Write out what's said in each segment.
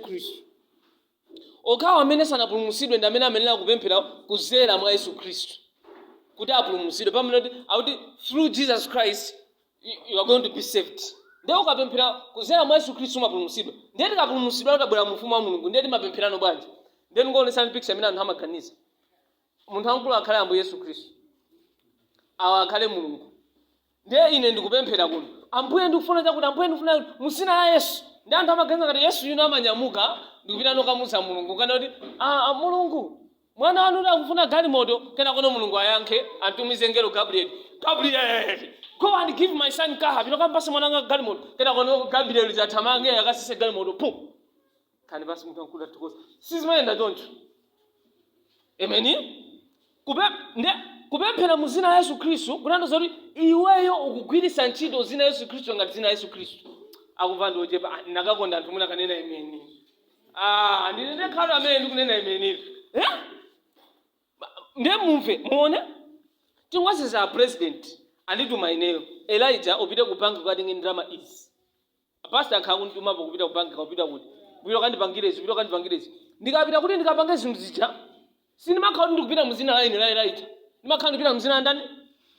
Khristu. Okhawo amene sanapulumutsidwe ndi amene amayenera kupemphera kuzera mwa Yesu Khristu kuti apulumutsidwe. Pamene kuti akuti through Jesus Christ you you are going to be saved. Ndiye ukapemphera kuzera mwa Yesu Khristu umapulumutsidwa. Ndiye tikapulumutsidwa utabwera mu ufumu wa Mulungu ndiye timapemphera no bwanji? Ndiye ndikuonetsani picture imene anthu amaganiza. Munthu wamkulu akhale Ambuye Yesu Khristu. Awa akhale Mulungu. Ndiye ine ndikupemphera kuno. Ambuye ndikufuna chakuti Ambuye ndikufuna kuti mu dzina la Yesu. Ndi anthu amaganiza ngati Yesu uja amanyamuka ndikupita kukamuza Mulungu kunena kuti ah ah, Mulungu mwana wanu akuti akufuna galimoto kenako no Mulungu ayankhe atumize ngelo Gabriel. Gabriel go and give my son car pita kampasa mwana wanga galimoto kenako no Gabriel athamange akatsitse galimoto pum. nkhani basi munthu wamkulu athokoza sizimayenda choncho emeni Kupe- nde kupemphera mu zina la yesu khristu kutanthauza kuti iweyo ukugwiritsa ntchito zina la yesu khristu ngati zina la yesu khristu akumva ndi ochepa "Ah, ndakakonda anthu mwina kanena imeni ah, ndine ndekha amene ndikunena ameni eh? Ba- nde mumve muone tingoyerekeza a president andituma ineyo elijah upite ku banki ukatenge ndalama izi A pastor akhala akundituma po kupita ku bank kapena kuti, upita ukandipangire izi, upita ukandipangire izi. Ndikapita kuti ndikapange zinthu zija, sindimakhala kuti ndikupita mu dzina la ine la Elijah. Ndimakhala ndikupita mu dzina la ndani?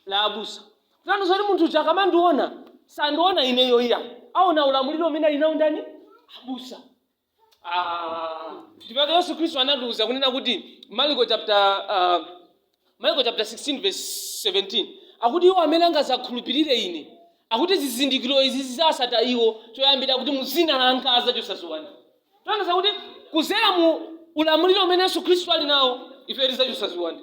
La abusa. Kutanthauza kuti munthu uja akamandiona, sandiona ineyo iyayi. Aona ulamuliro umene ali nawo ndani? Abusa. Ah, ndipo yesu khristu anatiuza kunena kuti mariko chapter ah, mariko chapter 16 verse 17 akuti iwo amene angazakhulupirire ine akuti zizindikiro izi zizawasata iwo choyambirira akuti muzina langa azachosa ziwanda kutanthauza kuti kuzera mu ulamuliro umene yesu khristu ali nawo ife tizachosa ziwanda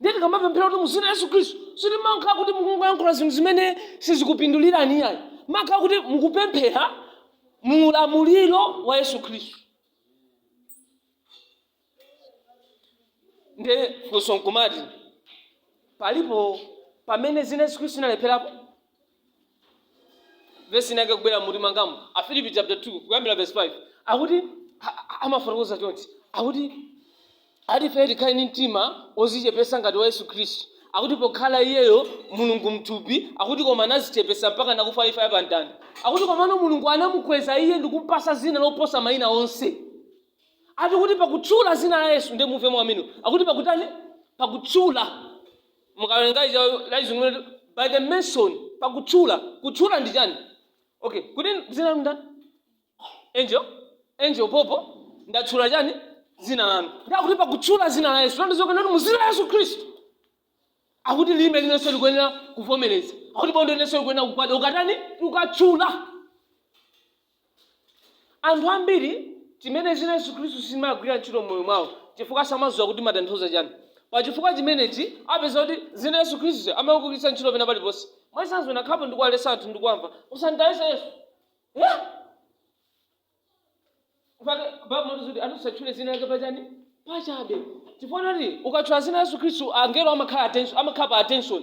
ndiye tikamapemphera kuti muzina yesu khristu sitimakhala kuti mukungoyankhula zinthu zimene sizikupindulirani iyayi mumakhala kuti mukupemphera mu ulamuliro wa yesu khristu nde funso nkumati palipo pamene zina yesu khristu inalepherapo vesi inake ikubwera mumtima mwangamu afilipi chapter 2 kuyambira vesi 5 akuti a- a- amafotokoza chonchi akuti ati ife tikhale ndi mtima ozichepesa ngati wa yesu khristu akuti pokhala iyeyo mulungu mthupi akuti koma anazichepesa mpaka anakufa imfa yapamtanda akuti komano mulungu anamukweza iye ndikumpasa zina loposa mayina onse ati kuti pakutchula zina la yesu ndiye muve mwabwino akuti pakutani pakutchula mukawerenga ija la chizungu kuti by the mention pakutchula kutchula ndi chani okay kutchula dzina lanu ndani angel angel popo ndatchula chani dzina lanu ndakuti pakutchula dzina la yesu ndiye akunena kuti mu dzina la yesu khristu akuti lilime lililonse likuyenera kuvomereza akuti bondo lililonse likuyenera kugwada tikatani tikatchula Anthu ambiri chimene dzina la Yesu Khristu silimagwira ntchito m'moyo mwawo chifukwa samadziwa kuti limatanthauza chani. Pa chifukwa chimenechi upeza kuti dzina la Yesu Khristu amaligwiritsa ntchito pena paliponse. Mwachitsanzo nakhalapo ndikuwaletsa anthu ndikuwamva usanditayese Yesu. Eh? Mpaka Bible imatiuza kuti anthu asatchule dzina lake pa chani? Pa chabe. Chifukwa kuti ukatchula dzina la Yesu Khristu angelo amakhala attention, amakhala pa attention.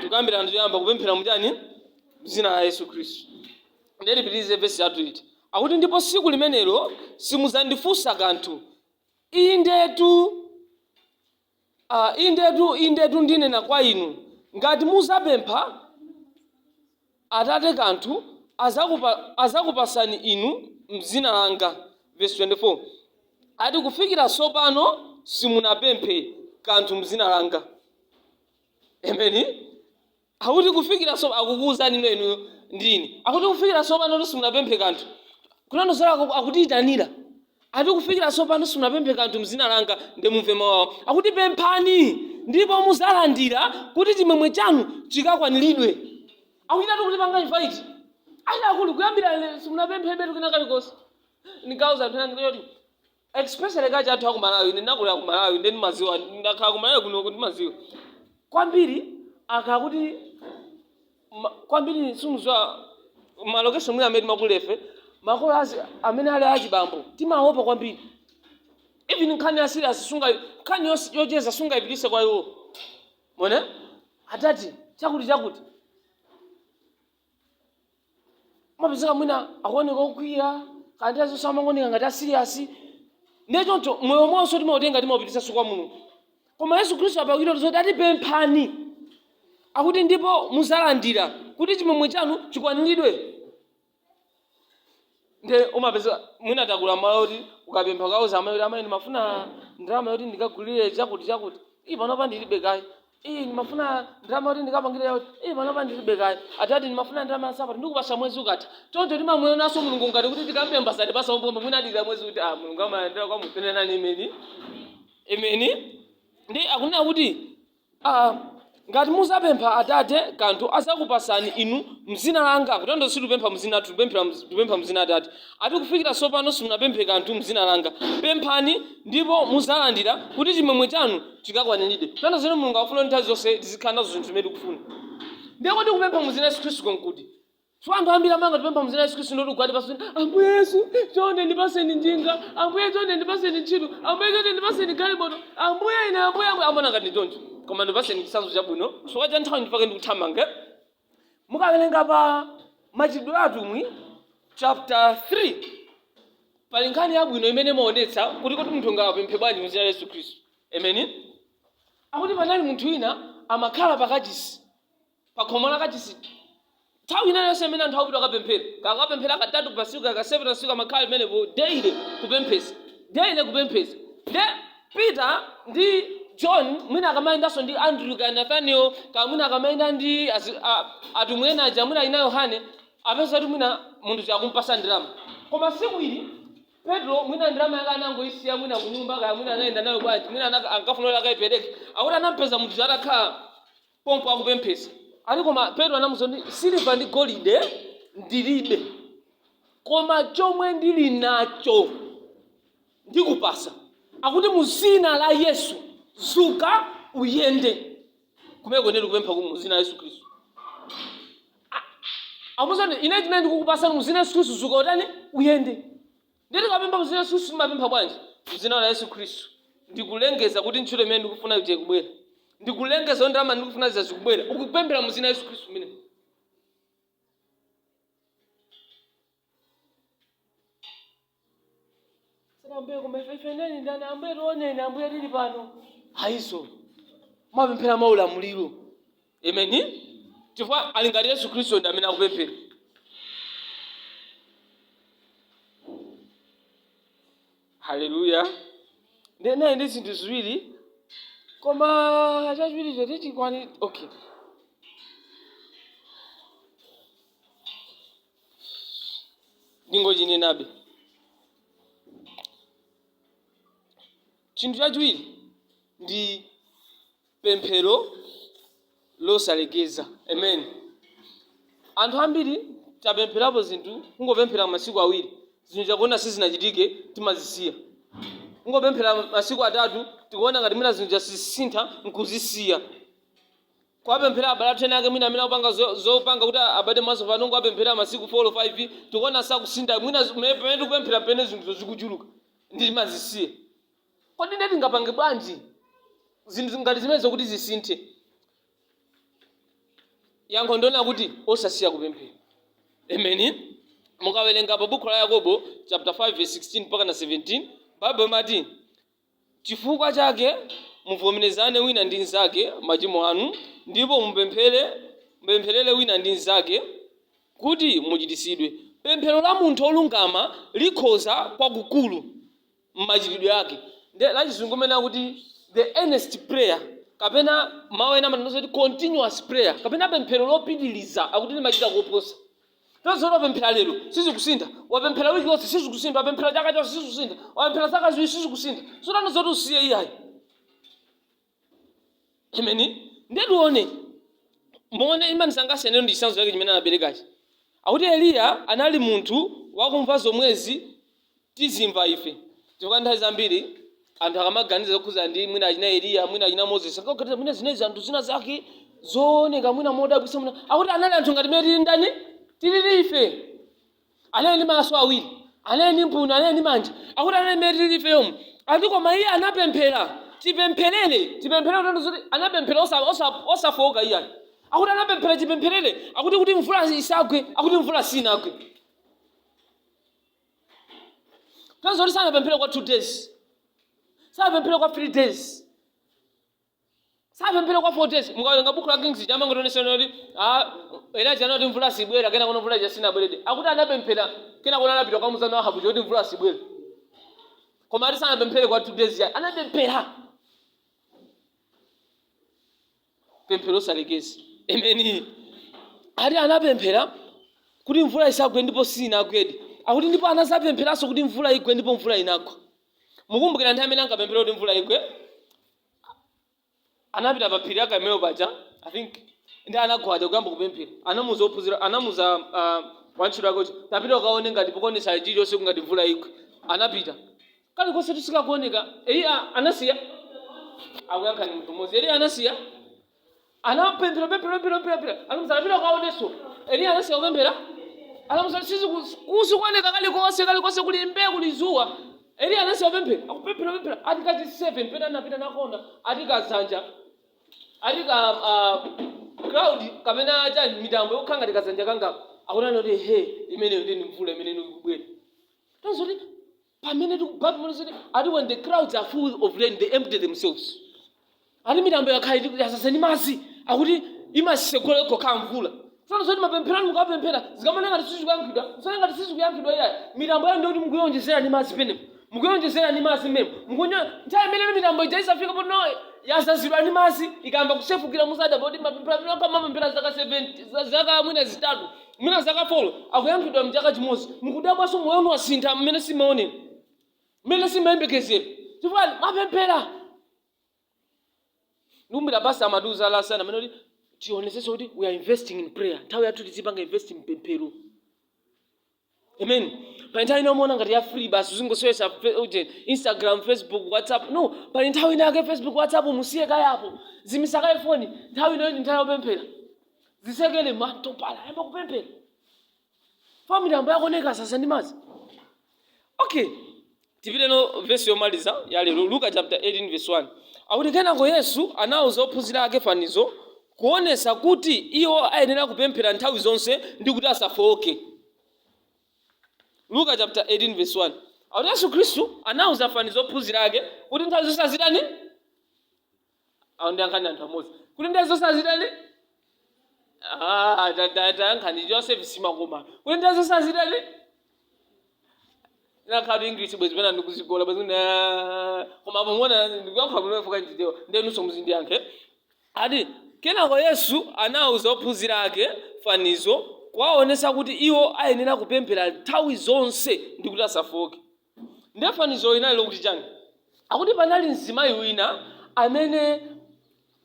tikambirana tiyamba kupemphera muchani mzina la yesu khristu ndiye tipitirize vesi yathu ikuti akuti ndipo siku limenelo simudzandifunsa kanthu indetu ah, indetu indetu ndinena kwa inu ngati muzapempha Atate kanthu azakupa, azakupasani inu m'dzina langa, vesi 24, ati kufikira tsopano simunapemphe kanthu m'dzina langa. Ameni. Akuti kufikira so, akukuuzani inuyo ndi ine. Akuti kufikira tsopano simunapemphe kanthu. Kutanthauza akutiitanira. Ati kufikira tsopano simunapemphe kanthu m'dzina langa, ndiye mumve mau ao akuti, Pemphani, ndipo mudzalandira, kuti chimwemwe chanu chikakwaniridwe. Akuchitatu kutipanga invite. Ati akulu, kuyambira lero simunapemphebe kena kalikonse. Ndikauza anthu ena ndikuti zoti, especially culture yathu yaku Malawi, ine ndinakulira ku Malawi, ndiye ndimadziwa, ndakhala ku Malawi kunoko ndimadziwa. Kwambiri akhala kuti Ma- kwambiri sindidziwa malokesho mwina amene timakulira ife makolo azi- amene ali achibambo timaopa kwambiri even nkhani ya serious sunga nkhani yos- yocheza sungayipitise kwa iwo moni adadi chakuti chakuti umapezeka mwina akuoneka okwiya nthawi zonse amangooneka ngati asiriyasi ndiye choncho moyo monse timautenga timaupitisa kwa mulungu koma yesu khristu apa akutiuza zoti ati pemphani akuti ndipo muzalandira kuti chimwemwe chanu chikwaniridwe nde umapeza mwina takula malo kuti ukapempha ukauza amayi kuti amayi ndimafuna ndalama yoti ndikagulire chakuti chakuti ii panopa ndilibe kaye ii ndimafuna ndalama yoti ndikapangire yakuti ii panopa ndilibe kaye adadi ndimafuna ndalama yansapato ndikupasa mwezi ukatha choncho timamuyonaso mulungu ngati kuti tikampempha satipasa umbombo mwina adikira mwezi uthe ah mulungu amayandikira kwa munthu nenani ameni Ameni. Ndi akunena kuti, ah, ngati muzapempha Atate kanthu azakupasani inu mzina langa. Kutanthauza sitipempha mzina lathu, tipempha mz- tipempha mzina Atate. Ati kufikira sopano simunapemphe kanthu mzina langa. Pemphani ndipo muzalandira kuti chimwemwe chanu chikakwaniridwe. Kutanthauza zimene Mulungu akufuna kuti nthawi zonse tizikhala nazo zinthu zimene tikufuna. Ndiye kodi kupempha mzina Yesu Khristu nkuti? so anthu ambiri amangoti tipempha muzina yesu khristu ndoti ukwati pasoni ambuye yesu chonde ndipaseni njinga ambuye chonde ndipaseni ntchito ambuye chonde ndipaseni galimoto ambuye ine ambuye ambuye amaona ngati choncho koma ndipaseni chisanzo chabwino chifukwa cha nthawi ndifuna ndithamange mukawerenga pa machitidwe a atumwi chapter 3 pali nkhani yabwino imene imaonetsa kuti kuti munthu angapemphe bwanji muzina yesu khristu ameni akuti panali munthu wina amakhala pakachisi pakhomo la kachisi nthawi ina yonse imene anthu akupita kukapemphera kaya kupemphera katatu pasiku kaya ka 7 pasiku amakhala pamenepo daily kupemphesa daily kupemphesa nde peter ndi john mwina akamayendanso ndi andrew kaya nathaniel kaya mwina akamayenda ndi azi- a- atumwi ena aja mwina ina yohane apeza kuti mwina munthu akumpasa ndalama koma siku ili petro mwina ndalama yake anangoisiya mwina kunyumba kaya mwina anayenda nayo bwanji mwina anaka- ankafunira akayipereke akuti anampeza munthu atakhala pompo akupemphesa ati koma petro anamuuza kuti siliva ndi golide ndilibe koma chomwe ndili nacho ndikupasa akuti muzina la yesu zuka uyende kumeneko nde kupempha mu zina la yesu khristu amuuza ine chimene ndikukupasa muzina la yesu khristu zuka utani uyende Ndiye tikapempha mu dzina la Yesu Khristu timapempha bwanji? Mu dzina la Yesu Khristu ndikulengeza kuti ntchito imene ndikufuna ija ikubwera. Ndikulengeza kuti ndalama ndikufuna zija zikubwera. Ukupemphera mu dzina la Yesu Khristu kumene. Si za ambuye koma ife ife neni ndani ambuye tioneni ambuye tili pano. Ayi izo. Mumapemphera mwaulamuliro. Ameni. Chifukwa zili ngati Yesu Khristu ndi amene akupemphera. Haleluya. Ndinali ndi zinthu ziwiri koma chachiwiri sichikwana okay. Ndingochinenabe. Chinthu chachiwiri ndi pemphero losalekeza. Amen anthu ambiri tapempherapo zinthu kungopemphera masiku awiri zinthu tikuona sizinachitike timazisiya kungopemphera masiku atatu tikuona ngati mwina zinthu sizikusintha nkuzisiya kuwapemphera abale athu ena ake mwina amene akupanga zo- zopanga kuti abade maso pano kungowapempherera masiku 4 5 tikuona sakusintha mwina zi- me- pamene tikupemphera mpamene zinthu zikuchuluka nde timazisiya Kodi ndiye tingapange bwanji zinthu ngati zimenezo kuti zisinthe? Yankho ndi lonena kuti, osasiya kupemphera. Ameni. Mukawerenga pa Bukhu la Yakobo chapter 5 verse 16 mpaka na 17, Baibo imati, Chifukwa chake muvomerezane wina ndi mnzake machimo anu, ndipo mupempherere wina ndi mnzake kuti muchiritsidwe. Pemphero la munthu wolungama likhoza kwakukulu. m'machitidwe ake. Ndi lachizungu limene akuti the earnest prayer kapena mawu ena amanenanso kuti continuous prayer kapena pemphero lopitiriza akuti limachita koposa. Kutanthauza zoti wapemphera lero sizikusintha, wapemphera wiki yonse sizikusintha, wapemphera chaka chonse sizikusintha, wapemphera zaka ziwiri sizikusintha. Sikutanthauza zoti usiye iyayi. Ameni. Ndiye tione. Muone chimandisangalatsa ineyo ndi chitsanzo chake chimene anaperekachi. Akuti Eliya anali munthu wakumva zomwezi tizimva ife. Chifukwa nthawi zambiri anthu akamaganiza zokhudzana ndi mwina achina Eliya, mwina achina Moses, ankaganiza mwina zinali zianthu zinazake zooneka mwina modabwitsa mwina. Akuti anali anthu ngati mmene tili ndani? Tilili ife. anali ndi maso awiri anali ndi mphuno anali ndi manja akuti anali mmene tili ifeyomu ati koma iye anapemphera chipempherere chipempherere kutanthauza zoti anapemphera osa- osa- osafowoka iyayi akuti anapemphera chipempherere akuti kuti mvula isagwe akuti mvula sinagwe kutanthauza zoti sanapemphere kwa two days sanapemphere kwa three days sanapemphere kwa 4 days mukawerenga buku la kings amangotionetsa kuti a elija anati mvula sibwera kenakono mvula ija sinabweredi akuti anapemphera kenakono anapita kukamuuza ahabu zoti mvula sibwera koma ati sanapemphere kwa 2 days iyayi anapemphera pemphero osalekeza ameni ati anapemphera kuti mvula isagwe ndipo sinagwedi akuti ndipo anadzapempheranso kuti mvula igwe ndipo mvula inagwa mukumbukira nthawi imene ankapemphera kuti mvula igwe anapita pa phiri la Karmelo paja I think ndi anagwada kuyamba kupemphera anauza ophunzira anamuuza uh, wantchito wake kuti tapita ukaone ngati pakuonetsa chilichonse kungati mvula igwe anapita kalikonse sikakuoneka eliya anasiya akuyankha ndi munthu mmodzi eliya anasiya Anapemphera, pemphera, pemphera, pemphera, pemphera. Anamuuza tapita kaonenso. Eliya anasiya kupemphera. Anamuuza sizi kusikuoneka kalikonse kalikonse kuli mbee kuli dzuwa. Eliya anasiya kupemphera. Akupemphera pemphera ati kachi 7 pamene anapita anakaona ati kadzanja. Ati ka uh, cloud kapena acha mitambo yokhala ngati kadzanja kanga. Akona noti he imeneyo ndi mvula imene ikubwera. Kutanthauza zoti Pamene tikuti Bible likuti ati when the clouds are full of rain they empty themselves. Ati mitambo ikakhala kuti yazaza ndi madzi akuti imasegula yokha yokha mvula. Sasa zoti mapemphero anu mukapemphera zikamakhala ngati sizikuyankhidwa musaone ngati sizikuyankhidwa iyayi mitambo yanuyo ndiyoti mukuyonjezera ndi madzi pomwe mukuyonjezera ndi madzi mmene mukunya nthawi imene mitambo ija izafika poti yazazidwa ndi madzi ikayamba kusefukira muzadabwa kuti mapemphera amene munkapemphera zaka 70 za- zaka mwina zitatu mwina zaka folo akuyankhidwa mchaka chimodzi mukudabwanso moyo wanu wasintha mmene simumaonera mmene simumayembekezera chifukwa mapemphera ndikukumbukira pastor amatiuza last Sunday amanena kuti tionetsetse kuti we are investing in prayer nthawi yathu tizipanga invest in pemphero amen pali nthawi ina umaona ngati ya free basi uzingosewesa instagram facebook whatsapp no pali nthawi ina yake facebook whatsapp muzisiye kaye apo zimitsa kaye foni nthawi ino ndi nthawi yopemphera zisekele mutoilet uyambe kupemphera mitambo yako uyizazise ndi madzi okay tipite ku vesi yomaliza ya lero luka chapter 18 verse 1 akuti kenako yesu anawuza ophunzira ake fanizo kuonesa kuti iwo ayenera kupemphera nthawi zonse ndi kuti asafowoke luka chapter 18 verse 1 akuti yesu khristu anawuza fanizo ophunzira ake kuti nthawi zonse azitani awo ndi ayankhani anthu amodzi kuti ndiye asazitani Ah, ta- ta- tayankhani joseph zimakoma kuti ndiye asazitani inakakhala English bwezi pena ndikuzigola bwezi kuti, ah, koma apo muona ndikuyankhula bwino chifukwa ndi Chichewa ndiye inunso muzindiyankhe ati kenako yesu anawuza ophunzira ake fanizo kuwaonesa kuti iwo ayenera kupemphera nthawi zonse ndi kuti asafooke Ndiye fanizolo linali lokuti chani? Akuti panali mzimayi wina amene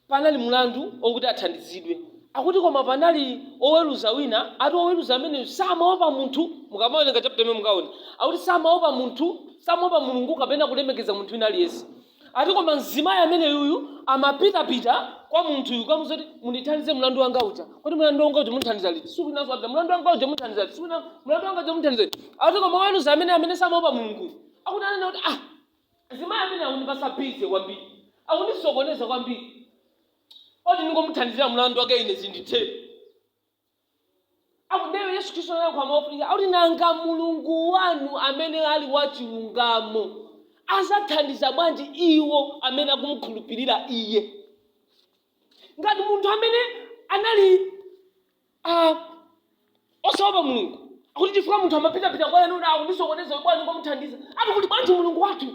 panali mulandu okuti athandizidwe. Akuti koma panali woweruza wina, ati woweruza ameneyu samaopa munthu, mukamawerenga chapter imeneyi mukaona. Akuti samaopa munthu, samaopa Mulungu kapena kulemekeza munthu wina aliyense. Ati koma mzimayi ameneyuyu amapitapita kwa munthuyu kukamuuza kuti mundithandize mlandu wanga uja. Kodi mlandu wanga uja munthandiza liti? Siku linanso apita mlandu wanga uja munthandiza liti? Siku lina mlandu wanga uja munthandiza liti? Ati koma woweruza amene amene samaopa Mulungu akuti ananena kuti ah mzimayi ameneyu akundipasa busy kwambiri. Akundisokoneza kwambiri. Koti ndingomuthandizira mlandu wake ine zindithere. akuti ndiye yesu khristu anayankhula mofunika akuti nanga mulungu wanu amene ali wachilungamo azathandiza bwanji iwo amene akumukhulupirira iye ngati munthu amene anali ah, osaopa mulungu akuti chifukwa munthu amapitapita kwa iye ndiye akundisokoneza bwanji ndimuthandize ati kuli bwanji mulungu wathu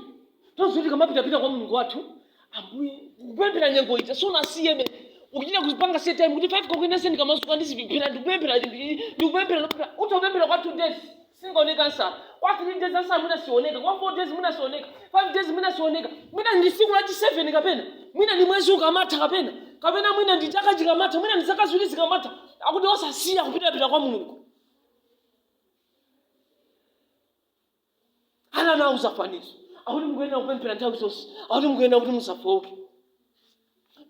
Tonse tizitikamapitapita kwa Mulungu wathu, Ambuye, kupemphera nyengo ija isanasinthe ukuchita kupanga set time kuti 5 o'clock ine ndikamadzuka ndizipemphera ndikupemphera ndi- ndikupemphera ndikupemphera utapemphera kwa 2 days siingaoneke ansa kwa 3 days ansa mwina sioneka kwa 4 days mwina sioneka 5 days mwina sioneka mwina ndi siku lachi 7 kapena mwina ndi mwezi ukamatha kapena kapena mwina ndi chaka chikamatha mwina ndi zaka ziwiri zikamatha akuti osasiya kupitapita kwa mulungu ana anawauza fanizo akuti mukuyenera kupemphera nthawi zonse akuti mukuyenera kuti musafowoke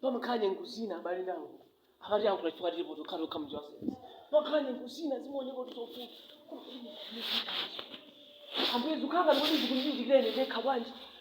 pamakhala nyengo zina abale ndi alongo akati ankula chifukwa tilipo tokha tokha mnjira wasayansi pamakhala nyengo zina zimaoneka kuti zovuta ambuye zikanga ndikuti zikundichitikireni ndekha bwanji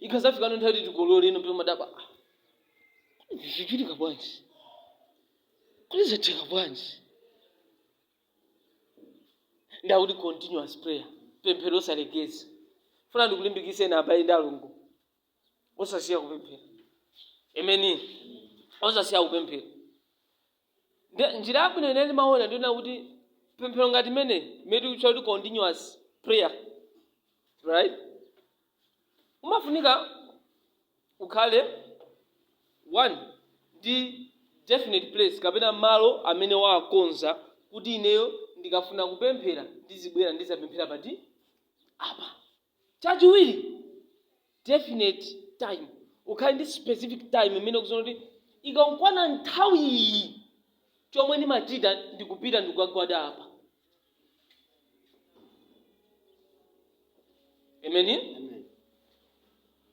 ikadzafikano nthawi yoti tikolole ino pita madaba ah, kodi zichitika bwanji kodi zatheka bwanji ndiye akuti continuous prayer pemphero osalekeza ndifuna ndikulimbikise ena abale ndi alongo osasiya kupemphera emeni osasiya kupemphera Ndiye njira yabwino ine ndimaona ndiyonena kuti pemphero ngati imene imene tikutchula kuti continuous prayer right umafunika ukhale uli ndi definite place kapena malo amene wakonza kuti ineyo ndikafuna kupemphera ndizibwera ndizapemphera pati apa Chachiwiri, definite time. Ukhale ndi specific time imene ukudziwa kuti ikankwana nthawi iyi chomwe ndimachita ndikupita ndikukagwada apa. Amen. Amen.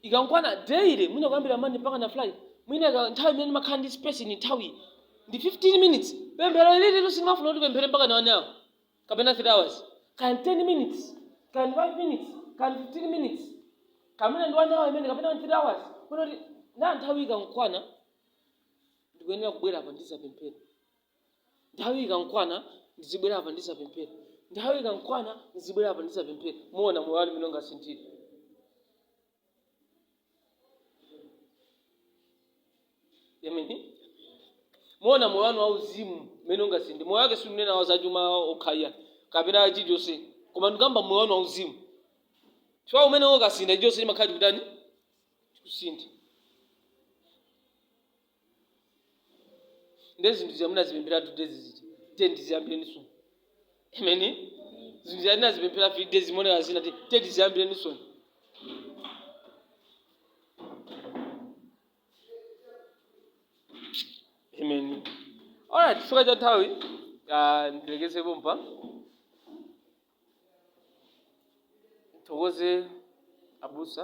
Ikankwana daily mwina kuyambira Monday mpaka na Friday. Mwina ika- nthawi imene ndimakhala ndi space nthawi iyi ndi 15 minutes. Pemphero ili silimafuna kuti upemphere mpaka na 1 hour. kapena 3 hours kaya ndi 10 minutes kaya ndi 5 minutes kaya ndi 15 minutes kapena ndi 1 hour imene kapena 3 hours kunena kuti na nthawi ikankwana ndikuyenera kubwera apa ndizapemphera nthawi ikankwana ndizibwera apa ndizapemphera nthawi ikankwana ndizibwera apa ndizapemphera muona moyo wanu mmene ungasinthire Amen. muona moyo wanu wauzimu mmene ungasinthire moyo wake sindikunena wa zachuma okhaya kapena chilichonse koma ndikamba moyo wanu wauzimu chifukwa umene ukasintha chilichonse chimakhala chikutani chikusintha nde zinthu zija munazipemphera two days zija ten tiziyambireni soon amen zinthu zija tinazipemphera three days monera zina ti ten tiziyambireni soon amen alright chifukwa cha nthawi ah, ndilekeze pompa ndithokoze abusa